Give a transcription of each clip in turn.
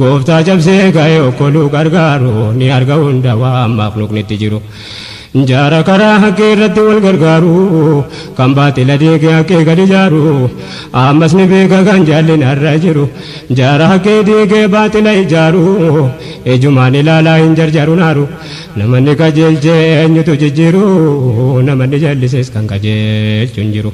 Gooftaa cabsee ka'ee okkoluu gargaaru ni arga hunda waan makhluuqnitti jiru. Jaara karaa haqqii irratti wal gargaaru, kan baaxila diige haqqii gad ijaaru. Ammas ni beeka kan jallina irra jiru, jaara haqqii diigee baaxila ijaaru. Ijumaan ilaalaa hin jarjaru naaru, namanni qajeelche eenyutu jijjiiru, namanni jallises kan qajeelchu hin jiru.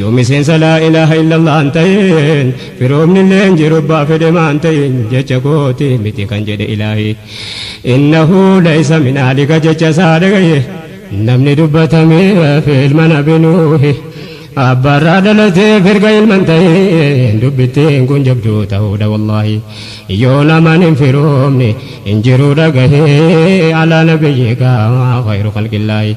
Yoo miseensa laa ilaaha illallah hin tahin firoomnillee hin jiru abbaa fedhe maa hin tahin jecha kooti miti kan jedhe ilaahi innahu laysa min ahlika jecha isaa dhagaye namni dubbatamee hafe ilma nabi nuuhi abbaarraa dhalatee firga ilma hin tahin dubbittiin kun jabduu tahuudha wallaahi yoo naman hin firoomne hin jiru dhagahe alaa nabiyyika khayru khalqillaahi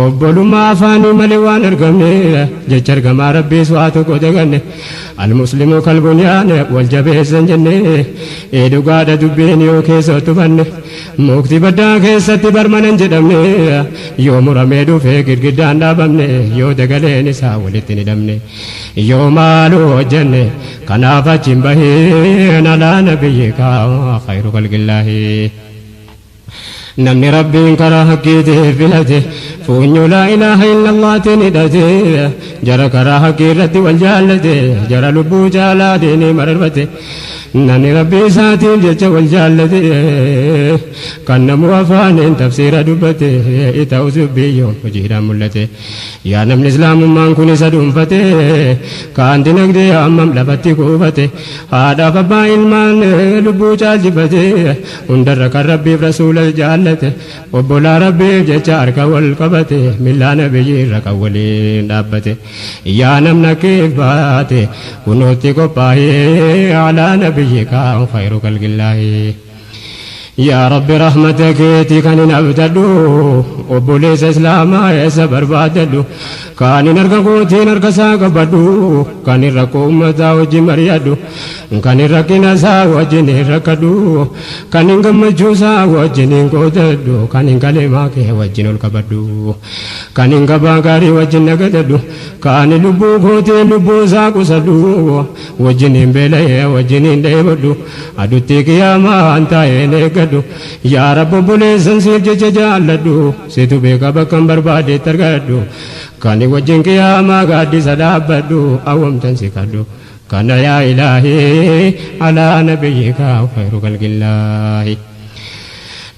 Obbolummaa afaanii malee waan argamne jecha ergamaa rabbiis waa tokko daganne almuslimu kalbunyaan wal jabeessan jenne ee dhugaadha dubbiin yoo keessa tufanne mukti baddaa keessatti barmanan jedhamne yoo muramee dhufe girgiddaan dhaabamne yoo dagaleen isaa walitti hin hidhamne yoo maaloo hojjenne kanaaf achiin bahee nalaa nabiyyi kaa khayru kalqillaahi. Namni Rabbiin karaa haqqiitii filate, fuunyoo laa ilaaha illallaatiin hidhate, jara karaa haqqii irratti wal jaallate, jara lubbuu caalaa diinii mararfate, namni Rabbii isaatiif jecha wal jaallate, kan namuu afaaniin tafsiira dubbate, ta'us dubbii yoom hojiidhaan mul'ate. Yaa namni Islaamummaan kun isa dhuunfate, kaan dinagdee hammam lafatti kuufate, haadhaaf abbaa ilmaan lubbuu caalchifate, Hundarra kan Rabbiif Rasuulas jaallate Obbolaa Rabbiif jecha harka wal qabate Millaa Nabiyyiirra kan waliin dhaabbate Yaa namna kiif baate kunoo itti qophaahi Alaa Nabiyyika khayru khalqillaahi Yaa Rabbi rahmata keeti kanin abdadhu Obboleessa Islaamaa eessa barbaaddadhu Kanin harka kootiin harka isaa qabadhu, kanin rakkoo ummataa wajjin mari'adhu, kanin rakkina isaa wajjiniin rakkadhu, kanin gammachuu isaa wajjiniin qoodadhu, kanin kaleemaa kee wajjin ol qabadhu, kanin gabaa gaarii wajjin nagadadhu, kanin lubbuu kootiin lubbuu isaa qusadhu, wajjiniin beela'ee wajjiniin dheebodhu, aduttii qiyaamaan taa'een eeggadhu. Yaa Rabbi obboleessan siif jecha jaalladhu. Situ beeka bakkan barbaade itti argadhu Kani wajjin qiyaamaa gaaddisa dhaabbadhu Awwamtan si kadhu kana yaa ilaahii Alaa nabiyyika khayru khalqillaahi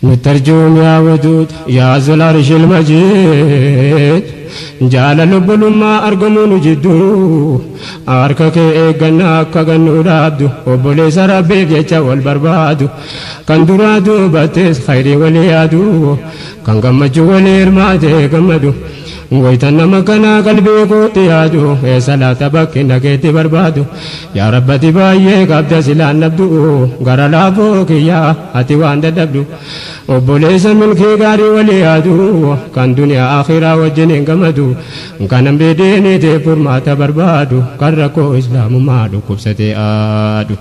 Nutti arjoom yaa waduud yaa zul arshil majiid Jaalala obbolummaa argamuu nu jidduu Harka kee eegganna akka gannuu dhaabdu Obboleessa Rabbiif jecha wal barbaadu Kan duraa duubattes khayrii walii yaadu Kan gammachuu walii hirmaatee gammadu Waytan nama kanaa qalbii kootti yaadu Eessa laata bakki nageetti barbaadu Yaa Rabb ati baay'ee qabda silaan dhabdu Gara laafoo kiyya ati waan dadhabdu Obboleessa milkii gaarii walii yaadu Kan duniyaa akhiraa wajjiniin gammadu Kan hamdii diiniitiif furmaata barbaadu Kan rakkoo islaamummaa dhukkubsatee aadu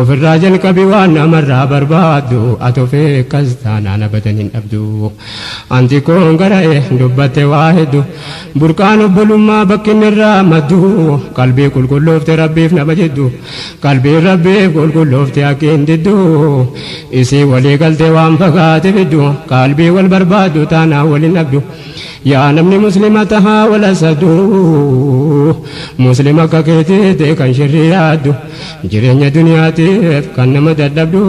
Ofirraa jalqabi waan namarraa barbaaddu Ati of eeggas taanaan abadan hin dhabdu An xiqqoon gara'e dubbatte waa heddu Burqaan obbolummaa bakkinni irraa maddu Qalbii qulqulloofte rabbiif nama jiddu Qalbiin rabbiif qulqulloofte akki hin diddu Isii walii galte waan fagaate fiddu Qalbii wal barbaaddu taanaan wal hin dhabdu Yaa namni muslima tahaa wal hasaddu Muslima akka keetiitti kan shirrii yaaddu Jireenya duniyaatiif kan nama dadhabdu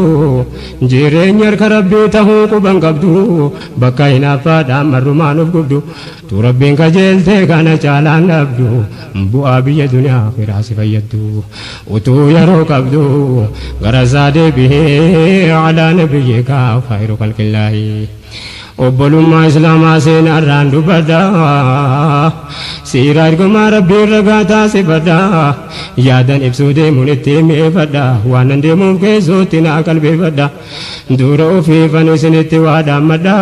Jireenyi harka Rabbii tahuu quban qabdu Bakka hinaaffaadhaan marrumaan of gubdu Tu Rabbiin qajeelte kana caalaan dhabdu Bu'aa biyya duniyaa aakhiraa si fayyaddu Utuu yeroo qabdu gara isaa deebihi Alaa nabiyyiikaa khayru khalqillaahi Obbolummaa islaamaa seenaarraan dubbadha Siira ergamaa rabbiin ragaa taasifadha Yaadan ibsuu deemuun itti mi'eeffadha Waanan deemuuf keessootti naa qalbeeffadha Duura ofiifan isinitti waa dhaammadha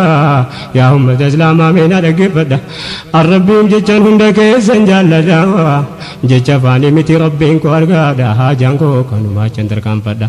Yaa ummata islaamaa mee na dhaggeeffadha An rabbiin jechan hunda keessan jaalladha Jecha afaanii miti rabbiin koo argaadha Haajaan koo kanumaa achan tarkaanfadha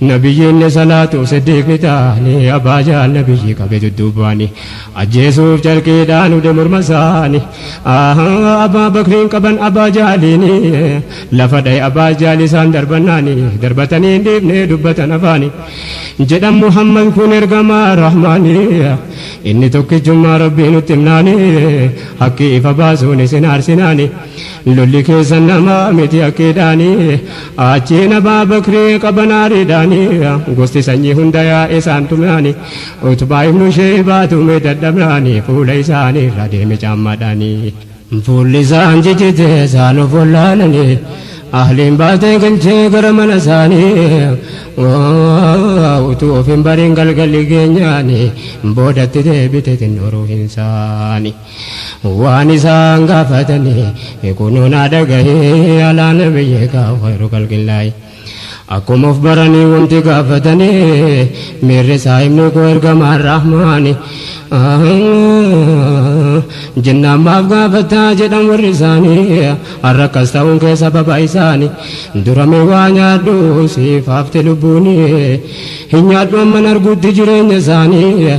Nabiyyiinni salaatu Siddiiq ni taane Abbaa Jaal Nabiyyi qabe dudduubaani Ajjeesuuf carqiidhaan ude morma isaani Abbaa Bakriin qaban Abbaa Jaaliini Lafa dhaye Abbaa Jaal isaan darbannaani Darbatanii hin dhiifne dubbatan afaani Jedhan Muhammad kun ergamaa Rahmaani Inni tokkichummaa Rabbii nutti himnaani Haqqi ifa baasuun isin aarsinaani Lolli keessan namaa miti akkiidhaani Achiin Abaa Bakrii qaban aariidhaani Gosti sanyii hunda yaa'e isaan tumaani Utbaa ibnu Sheeybaa tume dadhabaani Fuula isaanii irraa deeme caammaadhaani Fuulli isaan jijjite isaan of wallaalani Ahliin baatee galchee gara mana isaanii Utuu of hin bariin galgalli geenyaani Boodatti deebite xinnoo ruuhin isaani Waan isaan gaafatanii kunoo naa dhagahii alaa nabiyyii kaa khayru khalqillaahi Akkuma of baranii wanti gaafatanii miirri isaa himni koo ergamaan rahmaani Jennaan maaf gaafataa jedhan warri isaanii har'a akkas ta'uun kee sababa isaani Dura mee waa nyaadhu siif hafte lubbuuni hin nyaadhu amman arguutti jireenya isaanii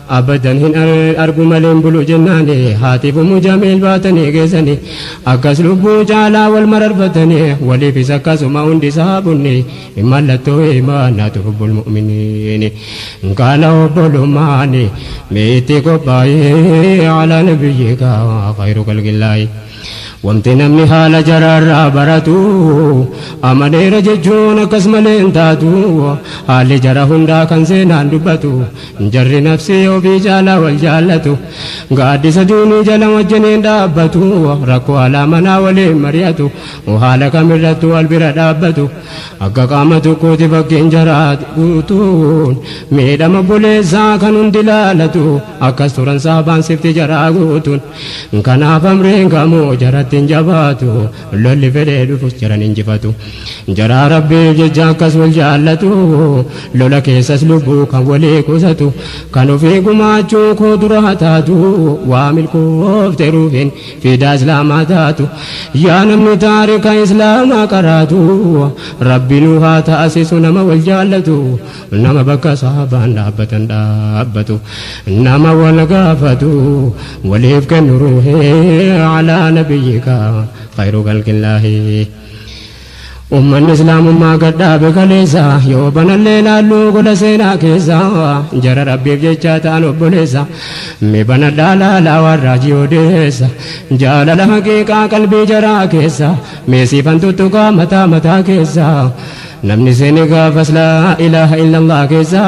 Abadan hin argu malee hin bulu jennaani Haatiif ummu jamiil baatanii geessani Akkas lubbuu caalaa wal mararfatani Waliifis akkasuma hundi sahaabonni Mallattoo iimaanaatu hubbul mu'miniini Kana obbolummaani mee itti qophaa'ii Alaa nabiyyika khayru khalqillaahi Wanti namni haala jaraarraa baratu Amaneera jechuun akkas malee hin taatu Haalli jara hundaa kan seenaan dubbatu Jarri nafsii ofii caalaa wal jaallatu Gaaddisa diinii jala wajjin hin dhaabbatu Rakkoo alaa manaa waliin mari'atu Haala kamirrattu wal bira dhaabbatu Akka qaama tokkooti fakkiin jaraa guutuun Miidhama obboleessaa kan hundi laalatu Akkas turan saabaan sifti jaraa guutuun Kanaaf amriin kamuu jaratti hin jabaatu, lolli fedhee dhufus jara hin injifatu. Jaraa Rabbiif jecha akkas wal jaallatu, lola keessas lubbuu kan walii qusatu. Kan ofii gumaachuu koo dura haa taatu, waa milkoofte ruuhiin fiidaa Islaamaa taatu. Yaa namni taarika Islaamaa qaraatu, Rabbi nu haa taasisu nama wal jaallatu. Nama bakka saabaan dhaabbatan dhaabbatu. Nama wal gaafatu waliif kennu ruuhii alaa nabiyyika khayru khalqillaahi. Ummanni Islaamummaa gad dhaabe kaleessa yoo banallee laallu gola seenaa keessa jara Rabbiif jechaa ta'an obboleessa. Mee banadhaa laalaa waan raajii odeessa jaalala haqiiqaa qalbii jaraa keessa mee siifan tuttuqaa mataa mataa keessa. Namni seene gaafas laa ilaaha illallah keessa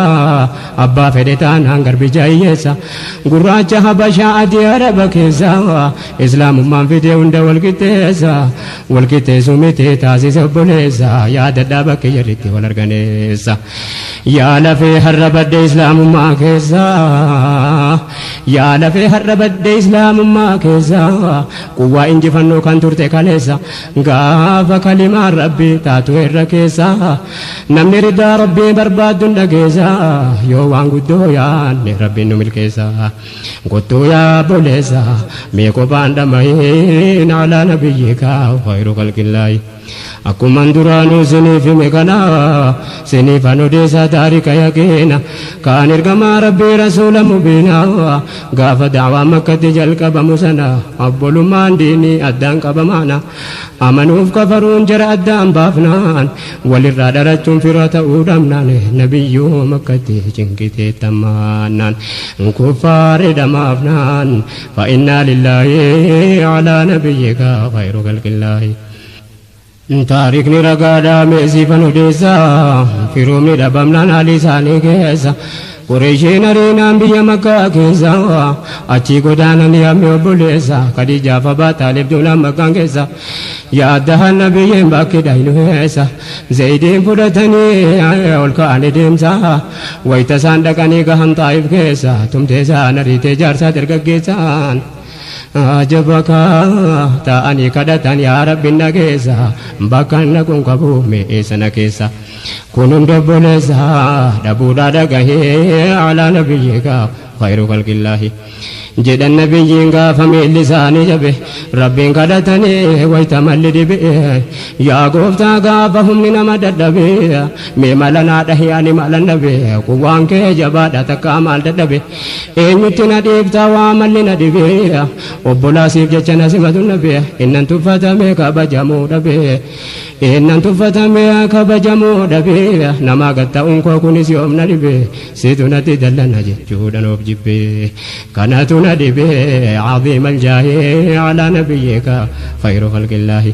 Abbaa fedhe taanaan garbicha hiyyeessa Gurraacha habashaa adii araba keessa Islaamummaan fidee hunda wal qixxeessa Wal qixxeessuu miti taasise obboleessa Yaadadhaa bakki jarri itti wal argan eessa Yaa lafee har'a badde islaamummaa keessa Yaa lafee har'a badde islaamummaa keessa Quwwaa injifannoo kan turte kaleessa Gaafa kalimaan rabbi taatu irra keessa namni ridaa rabbii barbaaddu dhageessa yoo waan guddoo yaanne rabbiin nu milkeessa gottuu yaa boleessa mee kophaan dhama'iin alaa nabiyyika khayru khalqillaahi akkuman duraanuu siniif hime kana siniif an odeessa taarika yaqiina kaan ergamaa rabbii rasuula mubiina Gaafa da'waan Makkatti jalqabamu sana obbolummaan diinii addaan qabamaana. Amanuuf kafaruun jara addaan baafnaan, walirraa dhalachuun fira ta'uu dhabnaan, Nabiyyuu Makkatti cinqii teettammaannaan. Kuffaarri dhamaafnaan, Fa innaa lillaahi alaa nabiyyika khayru khalqillaahi. Taarikni ragaadha mee siifan odeessa Firoomni dhabamnaan haalii isaanii keessa Qureeshiin ariinaan biyya Makkaa keessa Achii godaananii ammee obboleessa Khadiijaaf Abaa Xaalib duunaan Makkaan keessa Yaa addahaan Nabiyyiin bakki dhaynu eessa Zayidiin fudhatanii ol ka'anii deemsa Wayta isaan dhaqanii gahan Xaa'if keessa Tumtee isaan ariitee jaarsaa dargaggeessaan Ajaba kaa taa'anii kadhatan yaa rabbi na geessa bakkan dhaquun qabu mee eessa na keessa kun hunda obboleessa dhabuudhaa dhagahee alaa nabiyyiikaa khayru khalqillaahi jedhan nabiyyiin gaafa miilli isaanii jabe rabbiin kadhatanii wayta malli dhibe yaa gooftaa gaafa humni nama dadhabe mee mala naa dhahi ani malan dhabe quwwaan kee jabaadha takkaa maal dadhabe Eenyutti na dhiibta waa malli na dhibeera Obbolaa siif jecha na simatu nabe Innan tuffatame kabajamuu dhabe Innan tuffatame kabajamuu dhabe Namaa gad ta'uun koo kunis yoom na dhibe Situ natti dallana jechuudhan of jibbe Kanatu na dhibe Aziimal jaahi alaa nabiyyika Khayru khalqillaahi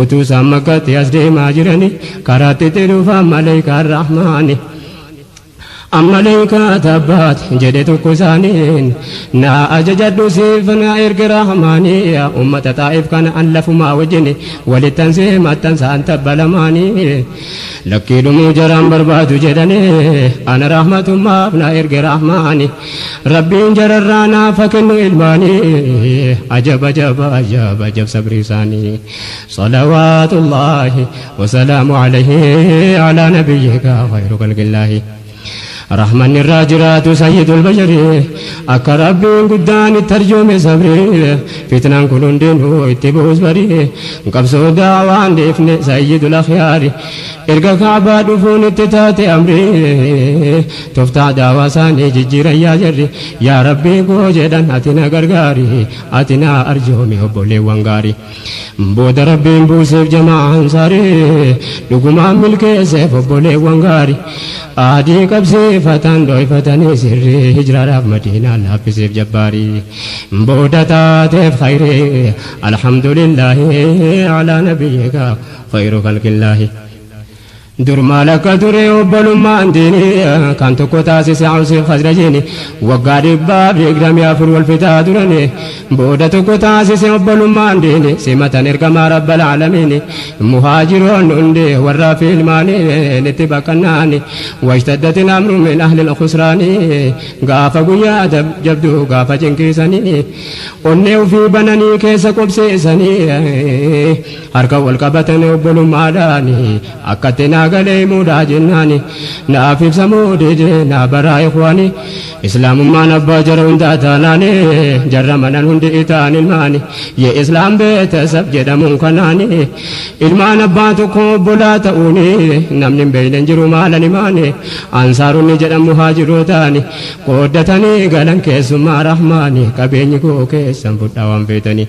Utuu isaan makkaatti as deemaa jiranii karaatti itti dhufaan maleekaan rahmaani. Ammaleekaa tabbaat jedhe tokko isaaniin naa ajajadhu siif naa erge rahmaanii ummata xaa'if kana an lafumaa wajjini walittan see maxxansaan tabba lamaanii lakkii dhumuu jaraan barbaadu jedhanii ana rahmatummaaf naa erge rahmaanii. Rabbiin jararraa naaf ha kennu ilmaani ajab ajab ajab ajab sabrii isaani salawaatullaahi wasalaamu alayhi alaa nabiyyika khayru kalqillaahi rahmanni irraa jiraatu sayyidul bashari akka rabbiin guddaan itti arjoome sabrii fitnaan kun hundinuu itti bu'us barii qabsoo daawaan dhiifne sayyidul akhyaari erga kaabaa dhufuun itti taate amrii Toftaa daawaa saanii jijjiiran yaa jarri Yaa Rabbii koo jedhan ati na gargaari Ati na arjoomi obboleewwan gaarii Booda Rabbiin buuseef jamaa ansaarii Dhugumaan milkeesseef obboleewwan gaarii Aadii qabsiifatan dhooyfatanii sirrii Hijraadhaaf Madiinaan laaffiseef jabbaarii Booda taateef khayrii Alhamdulillaahi Alaa nabiyyika khayru khalqillaahi Dur maal akka ture obbolummaan diini Kan tokko taasise Awsiif Khazrajiini Waggaa dhibbaaf digdamii afur wal fixaa turani Booda tokko taasise obbolummaan diini Simatan ergamaa Rabbal Aalamiini Muhaajiroonni hundi warraa fi ilmaani Itti baqannaani Washtaddatil amru min ahlil khusraani Gaafa guyyaa jabduu gaafa cinqii sanii Onnee ufii bananii keessa qubsiisanii Harka wal qabatanii obbolummaadhaani Akkatti naa galee himuudhaa jennaani Naaf ibsamuu dide naa baraa ikhwaani Islaamummaan abbaa jara hundaa taanaani Jarra manan hundi itaan ilmaani Ye Islaam beetasab jedhamuun kanaani Ilmaan abbaa tokkoo obbolaa ta'uuni Namni hin beeyne hin jiru maalan himaani Ansaaronni jedhan muhaajirootaani Qooddatanii galan keessummaa rahmaani Qabeenyi koo keessan fudhaa waan feetani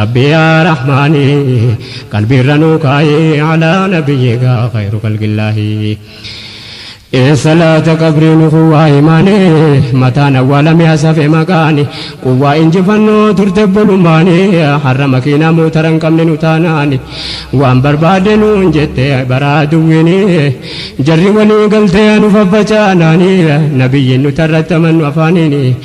Rabbii yaa Rahmaani qalbiirra nuu kaayi alaa nabiyyiika khayru khalqillaahi Ee salaata qabrii nu kuwwaa imaani mataan awwaala mi'a safe maqaani quwwaa injifannoo turte bolummaani har'a makiinaa mootara hin qabne nu taanaani waan barbaadde nuun jette bara aduwwiini jarri walii galtee nu faffacaanaani nabiyyiin nutarratti amannu afaaniini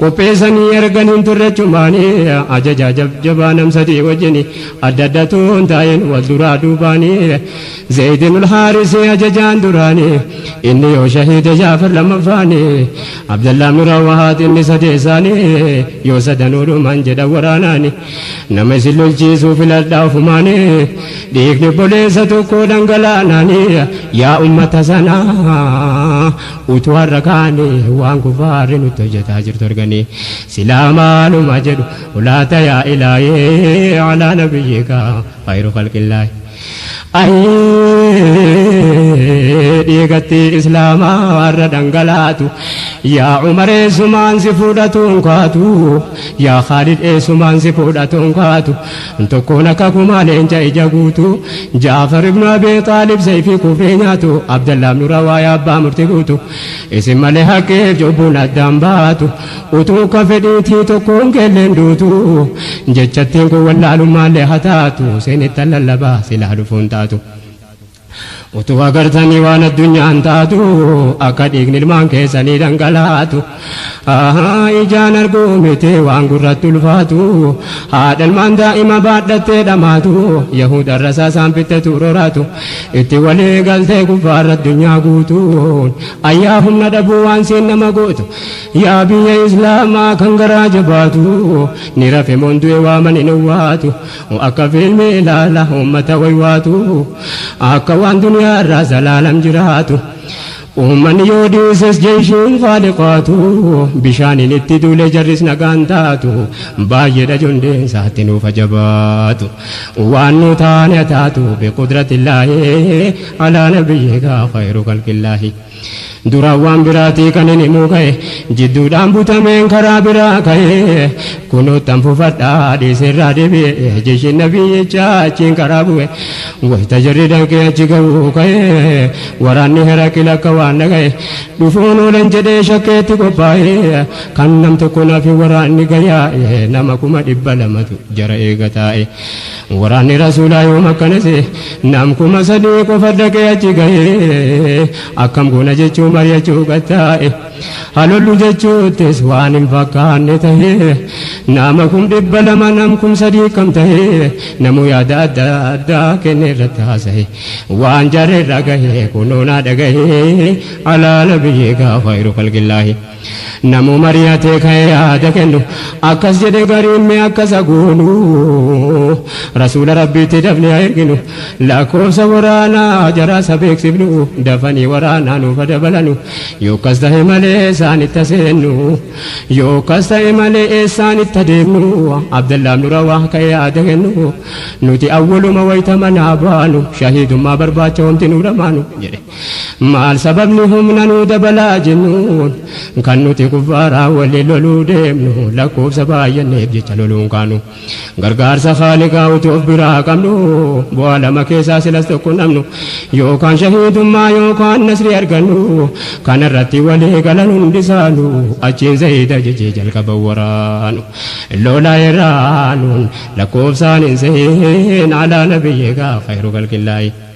Qopheessanii ergan hin turre achumaani ajajaa jabjabaa nam sadii wajjini adda addatu hin taa'in wal duraa duubaani Zayd ibn al-Haaris ajajaan duraani inni yoo shahiide Jaafar lammaffaani Abdallah ibn Rawahaat inni sadeessaani yoo sadanuu dhuman jedhan waraanaani nama isin lolchiisuu filadhaa ofumaani dhiigni obboleessa tokkoo dhangalaanaani yaa ummata sanaa Utuu har'a kaane waan kufaarri nutti hojjataa jirtu argani silaa maaluma jedhu ulaata yaa ilaahii alaa nabiyyika khayru khalqillaahi ayii dhiigatti islaamaa har'a dhangalaatu yaa umar eessumaan si fuudhatuun kaatu yaa khaalid eessumaan si fuudhatuun kaatu Tokkoon akka kumaa leenca ija guutuu Jaafar ibnu Abii Xaalib seeyfii kufrii nyaatu Abdallah ibnu Rawaayaa abbaa murti guutu Isin malee haqqiif cubbuun addaan baatu Utuu ka fedhiitii tokkoon keelleen duutu Jechattiin kun wallaalummaallee hataatu Seenettan lallabaa silaa dhufuun taatu Utuu agartanii waan addunyaan taatu akka dhiigni ilmaan keessanii dhangalaatu ijaan arguu miti waan gurratti ulfaatu haadha ilmaan daa'ima baadhattee dhamaatu yahuda irrasaa isaan fittetu roraatu itti walii galtee kuffaarra addunyaa guutuun ayyaa humna dhabuu waan siin nama gootu yaa biyya islaamaa kan garaa jabaatu ni rafe moon du'e waamani hin owwaatu Akka fiilmii ilaala uummata waywaatu Akka waan duniyaarraa zalaalam jiraatu Uummanni yoo dhiises jeeshiin khaaliqaatu Bishaaniin itti duule jarris nagaan taatu Baay'eedha jundeensa atti nuuf ha jabaatu Waan nu taane ha taatu biqudratillaahi Alaa nabiyyiikaa khayru khalqillaahi Duraan waan biraatii kanin himuu ka'e, jidduudhaan butameen karaa biraa ka'e. Kunoottan fufadha dhiiseerraa deebi'e, jechi nabiyyichaa achiin karaa bu'e. Wayita jarri danqee achi ga'uu ka'e, waraanni Heraqil akka waan dhaga'e, dhufuun oolan jedhee shakkeetti qophaa'e. Kan nam tokko nafi waraanni gayaa'e, nama kuma dhibba lamatu jara eega taa'e. Waraanni Rasuulaa yoom akkana se'e? Nam kuma sadii qofa dhaqee achi gahe. Akkam goona jechuu mari'achuu gad taa'e. Ha lollu jechuuttis waan hin fakkaanne tahe. Nama kum dhibba lama nam kum sadii akkam tahe? Namuu yaada adda addaa kennee irratti haasahe. Waan jarri irra gahe kunoo naa dhagahi. Alaa Nabiyyika khayru khalqillaahi. Namuu mari'atee ka'ee yaada kennu. Akkas jedhe gariin mee akka isa goonu. Rasuula Rabbiitti dafnee haa erginu. Lakkoofsa waraanaa jaraas haa beeksifnu. Dafanii waraanaa nuuf haa dabalanu. Yoo akkas tahe malee eessaanitti haa seennu. Yoo akkas tahe malee eessaanitti haa deemnu. Abdallaah ibnu Rawaah ka'ee yaada kennu. Nuti awwaluma wayta manaa baanu. Shahiidummaa barbaacha homti nuu dhamaanu. jedhe. Maal sababni humna nuu dabalaa jennuun kan nuti kuffaaraa walii loluu deemnu lakkoofsa baay'anneef jecha loluun kaanu gargaarsa Khaaliqaa utuu of biraa qabnu bu'aa lama keessaa silas tokko namnu yookaan shahiidummaa yookaan nasrii argannu kanarratti walii galan hundisaanu achiin zayiida jechee jalqaban waraanu lola irraanuun lakkoofsaan hin seen alaa nabiyyee gaa khayru khalqillaayi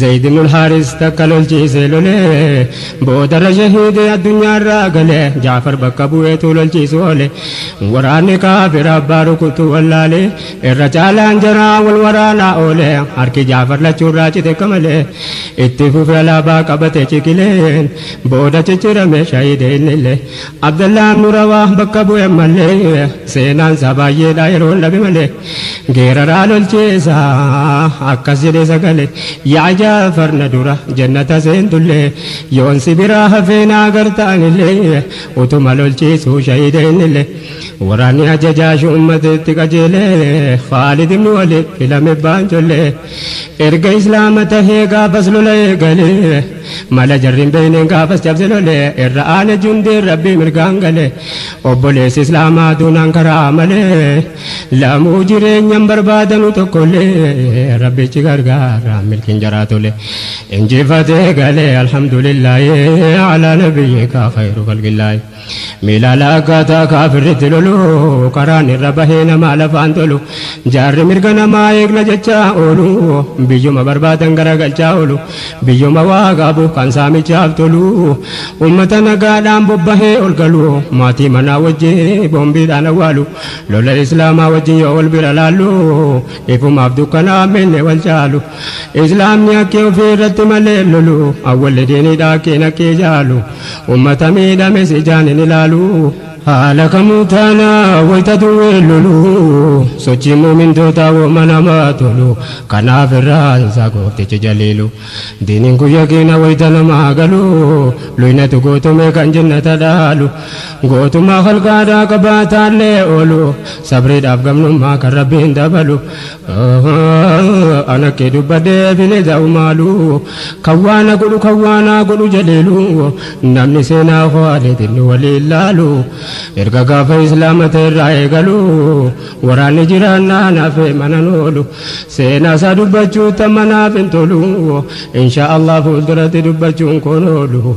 Zayd ibnul Haaris takka lolchiisee lolee boodarra shahiidee addunyaarraa gale. Jaafar bakka bu'eetu lolchiisu oole. Waraanni kaafira abbaa rukutu wallaale. Irra caalaan jaraa wal waraanaa oole. Harki Jaafar lachuurraa cite akka malee. Itti fufe alaabaa qabate ciqileen. Booda ciccirame shahiide innillee. Abdallaan nu rawaa bakka bu'e ammallee seenaan isaa baay'eedha yeroon dhabe malee geeraraa lolcheessa akkas jedhee sagale yaa jaafar na dura jannata seentullee yoon si biraa hafee na agarta anillee utuma lolchiisuu shahiida innillee waraanni ajajaa shu'ummateetti qajeelee khaalid ibnu waliid filame baanchollee erga islaama tahee gaafas lola eegalee Mala jarri hin beekneen gaafas cabse lole irra aane jundiin rabbii mirgaan gale obboleessi islaamaa duunaan karaa malee lamuu jireenyan barbaadanu tokkollee rabbichi gargaara milkiin jaraa tole injifatee gale alhamdulillaahi alaa nabiyyika khayru khalqillaahi. Mee laalaa akkaataa kaafirri itti lolu, karaan irra bahee namaa lafaan tolu. Jaarri mirga namaa eegna jechaa oolu, biyyuma barbaadan garagalchaa oolu. Biyyuma waa qabu kan saamichaaf tolu, ummata nagaadhaan bobbahee ol galu. Maatii manaa wajji boombiidhaan awwaalu, lola Islaamaa wajjin yoo wal bira laallu, ifumaaf dukkanaaf miilli wal caalu. Islaamni akkee ofii irratti malee lolu awwalli diinidha akkiin akkee jaalu ummata miidhames ijaan hin ilaalu. Haala kamuu taana wayta duwween lolu sochiin mu'mintootaa wooma namaa tolu kanaaf irraan isaa gooftichi jaliilu diiniin kun yaqiina wayta namaa galu luynatu gootomee kan jennata dhaalu gootummaa khalqaadhaa qabaataallee oolu sabriidhaaf gamnummaa kan rabbiin dabalu Ana kee dubbadhee bineza umaalu Kan waa na godhu kan waa naa godhu jaliilu Namni seenaa koo aleetiin nu waliin laalu Erga gaafa islaama ta'e irraa eegalu Waraanni jiraannaa naafee manan oolu Seenaa isaa dubbachuu tamma naaf hin tolu Inshaa Allah fuulduratti dubbachuun koon oolu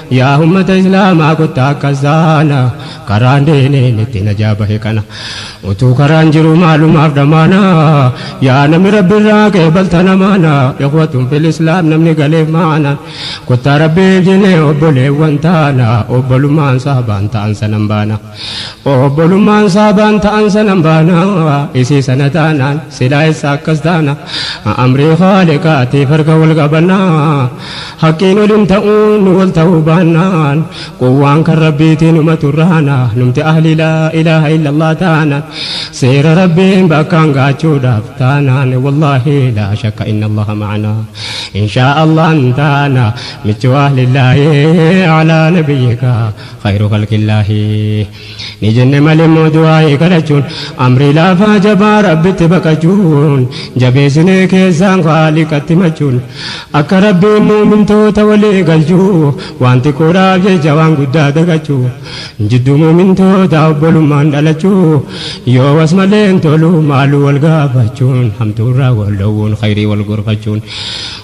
Yaa ummata islaamaa kottaa akkas taana karaan deeneen itti najaa bahe kana utuu karaan jiru maalumaaf dhamaana yaa namni rabbi irraa qeebaltan amaana ikhwatun fil islaam namni galeef maana kottaa rabbiif jennee obboleewwan taana obbolummaan saabaan ta'an sanan baana Obbolummaan saabaan ta'an sanan baana Isii sana taanaan silaa eessa akkas taana Amrii khaaliqaatiif harka wal qabanna Haqqiin ol hin ta'u nu wal ta'uu baannaan Quwwaan kan rabbiitii numa turraana Numti ahlii laa ilaaha illallah taanaan Seera rabbiin bakkaan gaachuudhaaf taanaan Wallaahi laa shakka inna allaha ma'ana Inshaa allahan taana Michuu ahlillaahi alaa nabiyyika Khayruu khalqillaahi Ni jenne malimmoo du'aa'ii kadhachuun Amrii laafaa jabaa Rabbitti baqachuun Jabeessinee keessaan Khaaliqatti machuun Akka Rabbiin mu'mintoota walii galchu Waan xiqqoodhaaf jecha waan guddaa dagachu Jidduu mu'mintootaa obbolummaan dhalachu Yoo was malee hin tolu maaluu wal gaafachuun Hamtuurraa wal dhoowwuun khayrii wal gorfachuun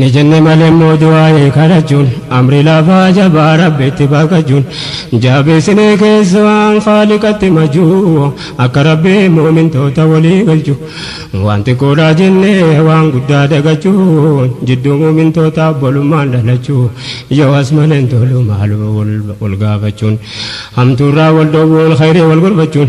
Ni jenne malee immoo du'aa'ee kadhachuun amri lafaa jabaa rabbitti baqachuun jaabeessinee keessumaan khaaliqatti majuu akka rabbii muumintoota walii galchu waan xiqqoodhaa jennee waan guddaa dagachuun jidduu muumintoota obbolummaan dhalachuu yoo as maleen tolu maaluma wal gaafachuun hamtuurraa wal dhoowwuun khayrii wal gorfachuun